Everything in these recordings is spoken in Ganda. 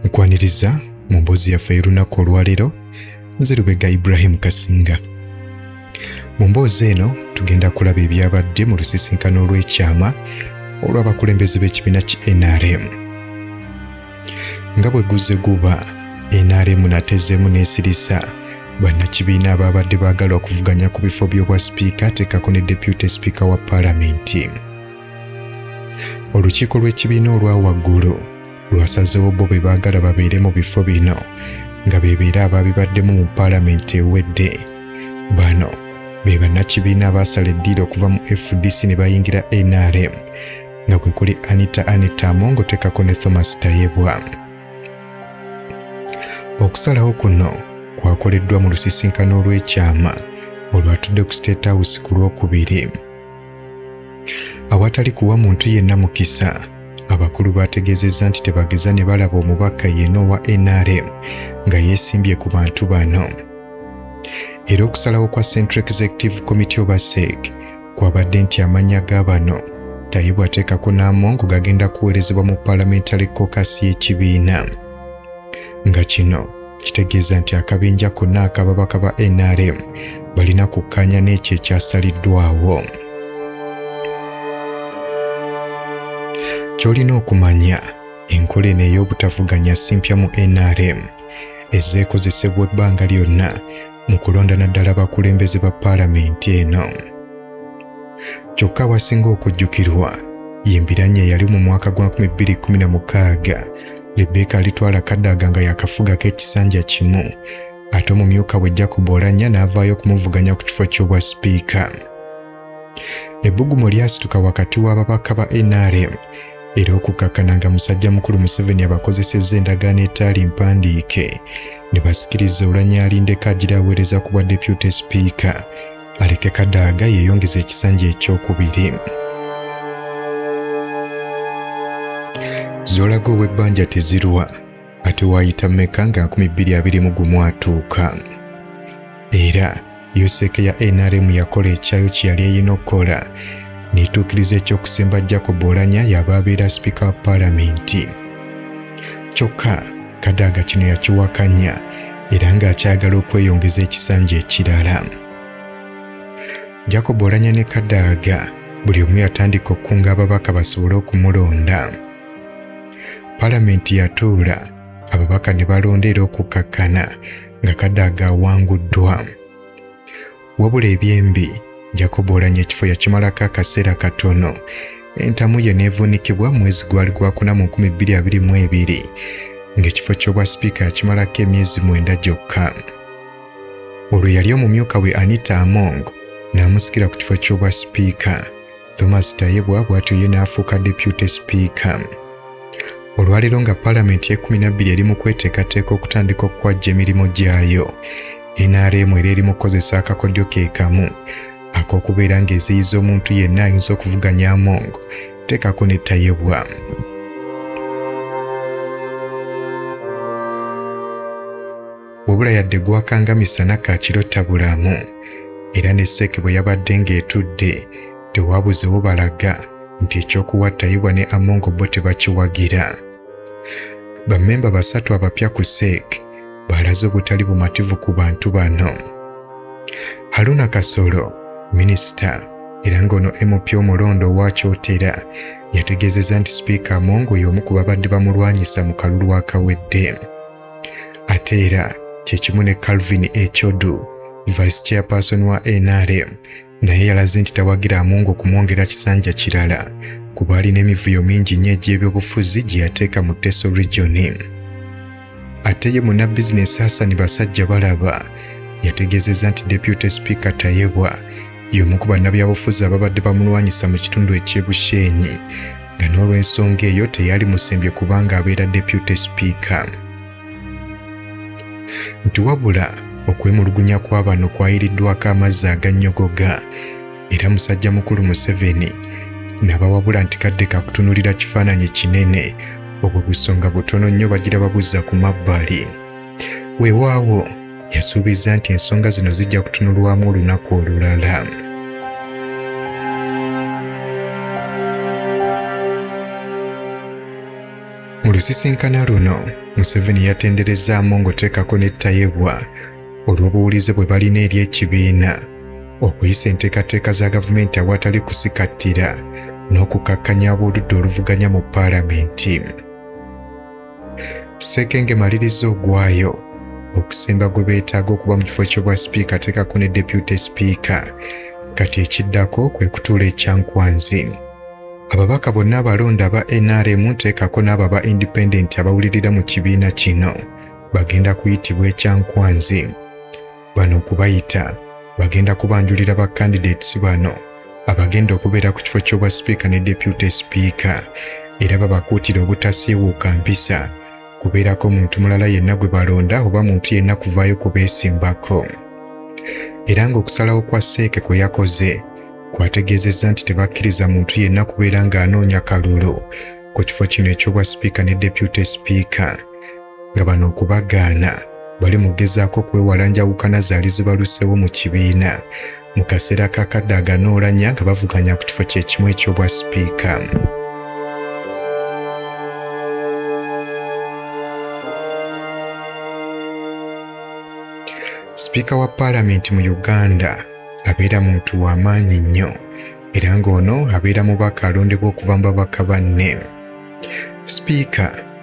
nkwaniriza mu mboozi yaffe y'olunaku olwaleero nze lubega ibrahimu kasinga mu mboozi eno tugenda kulaba ebyabadde mu lusisinkano olw'ekyama olw'abakulembeze b'ekibiina ki nrm nga bwe guzze guba nrm natezeemu n'esirisa bannakibiina abaabadde baagala okuvuganya ku bifo by'obwa sipiika ateekako ne depute sipiika wa palamenti olukiiko lw'ekibiina olwa waggulu lwasazeewo bo be baagala babeere mu bifo bino nga beebeera abaabibaddemu mu paalamenti ewedde bano be bannakibiina abaasala eddiiro okuva mu fdc ne bayingira nrm nga kwe kuli anita anita amongo tekako ne thomas tayebwa okusalawo kuno kwakoleddwa mu lusisinkano olw'ekyama olwatudde ku state house ku lwokubiri awatali kuwa muntu yenna mukisa abakulu baategeezezza nti tebageza ne balaba omubaka yeena owa nrm nga yeesimbye ku bantu bano era okusalawo kwa central executive committee oba sec kwabadde nti amannya ga bano tayibwa ateekako n'amongo gagenda kuweerezebwa mu parliamentary cocus y'ekibiina nga kino kitegeeza nti akabinja konna ak'ababaka ba NRM balina kukkaanya n'ekyo ekyasaliddwawo. Ky'olina okumanya, enkola eno ey'obutavuganya si mpya mu NRM. Ezze ekozesebwa ebbanga lyonna mu kulonda naddala abakulembeze ba paalamenti eno kyokka awasinga okujjukirwa yembiranye eyali mu mwaka gwa 2016 lebbeeka alitwala kadaaga nga yakafugako ekisanja kimu ate omumyuka we jacob olanya n'avaayo okumuvuganya ku kifo ky'obwa sipiika Ebbugumu lyasituka wakati w'ababaka ba NRM era okukkakkana nga musajja mukulu Museveni abakozesezza endagaano etaali mpandiike ne basikiriza olanya alindeko agira aweereza ku bwa deputy speaker aleke Kadaga yeeyongeza ekisanja ekyokubiri. Zolaga ow'ebbanja tezirwa ate waayita meka nga nkumi bbiri abiri mu gumu atuuka era yuseeke ya nrm yakola ekyayo kye yali erina okukola netuukiriza ekyokusemba jacob olanya yaba abeera sipiika wa paalamenti kyokka kadaaga kino yakiwakanya era ng'akyagala okweyongeza ekisanja ekirala jacob olanya ne kadaaga buli omu yatandika okukunga ababaka basobole okumulonda Palamenti yatuula ababaka ne balonda era okukkakkana nga Kadaga awanguddwa. Wabula ebyembi Jacob Oulanyah ekifo yakimalako akaseera katono entamu ye neevuunikibwa mwezi gwali gwakuna mu 2022 ng'ekifo ky'obwa sipiika yakimalako emyezi mwenda gyokka olwo yali omumyuka we anita among n'amusikira ku kifo ky'obwa sipiika Thomas Tayebwa bw'atyo ye n'afuuka deputy speaker. Olwaleero nga palamenti y'ekkumi na bbiri eri mu kweteekateeka okutandika okukwajja emirimu gyayo, NRM era eri mu kukozesa akakodyo ke kamu ak'okubeera ng'eziyiza omuntu yenna ayinza okuvuganya Among teekako ne Tayebwa. wabula yadde gwakanga misana ka kiro tabulamu era ne seeke bwe yabadde ng'etudde tewabuzewo balaga nti ekyokuwa tayibwa ne amongo bo tebakiwagira bammemba basatu abapya ku seek balaze obutali bumativu ku bantu bano haruna kasolo minisita era ng'ono mp omulonda owa kyotera yategeezezza nti sipiika amongo y'omu ku babadde bamulwanyisa mu kalulu akawedde ate era kyekimu ne Calvin Ekyodu vice chairperson wa NRM naye yalaze nti tawagira Among okumwongera kisanja kirala kuba alina emivuyo mingi nnyo egy'ebyobufuzi gye yateeka mu Teso region. Ate ye munnabizinensi Hassan Basajja Balaba yategeezezza nti Deputy Speaker Tayebwa y'omu ku bannabyabufuzi ababadde bamulwanyisa mu kitundu eky'e Bushenyi nga n'olw'ensonga eyo teyali musembye kubanga abeera deputy speaker nti wabula okwemulugunya kwa bano kwayiriddwako amazzi agannyogoga era musajja mukulu museveni nabawabula nti kadde kakutunulira kifaananyi kinene obwo busonga butono nnyo bagira babuzza ku mabbali Weewaawo, yasuubizza nti ensonga zino zijja kutunulwamu olunaku olulala. Mu lusisinkana luno, Museveni yatenderezza Amongo teekako ne Tayebwa olw'obuwulize bwe balina eri ekibiina okuyisa enteekateeka za gavumenti awatali kusikattira n'okukakkanya ab'oludda oluvuganya mu paalamenti. Ssekenge maliriza ogwayo okusemba gwe beetaaga okuba mu kifo ky'obwa sipiika ateekako ne deputy sipiika kati ekiddako kwe kutuula ekyankwanzi ababaka bonna abalonda aba nrm nteekako n'abo aba independent abawulirira mu kibiina kino bagenda kuyitibwa ekyankwanzi bano okubayita bagenda kubanjulira ba candidates bano abagenda okubeera ku kifo ky'obwa sipiika ne deputy sipiika era babakuutira obutasiiwuuka mpisa kubeerako muntu mulala yenna gwe balonda oba muntu yenna kuvaayo kubeesimbako era ng'okusalawo kwa seeke kwe yakoze kwategeezezza nti tebakkiriza muntu yenna kubeera ng'anoonya kalulu ku kifo kino eky'obwa sipiika ne deputy sipiika nga bano okubagaana bali mugezaako okwewala njawukana zaali zibaluseewo mu kibiina mu kaseera kakadde aganoolanya nga bavuganya ku kifo kyekimu eky'obwa sipiika sipiika wa paalamenti mu uganda abeera muntu wa maanyi nnyo era ng'ono abeera mubaka alondebwa okuva mu babaka banne sipiika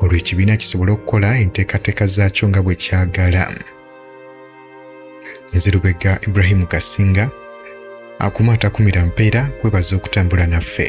olwo ekibiina kisobole okukola enteekateeka zaakyo nga bwe kyagala nze lubega ibrahimu kasinga akuma atakumira mpeera kwebaza okutambula naffe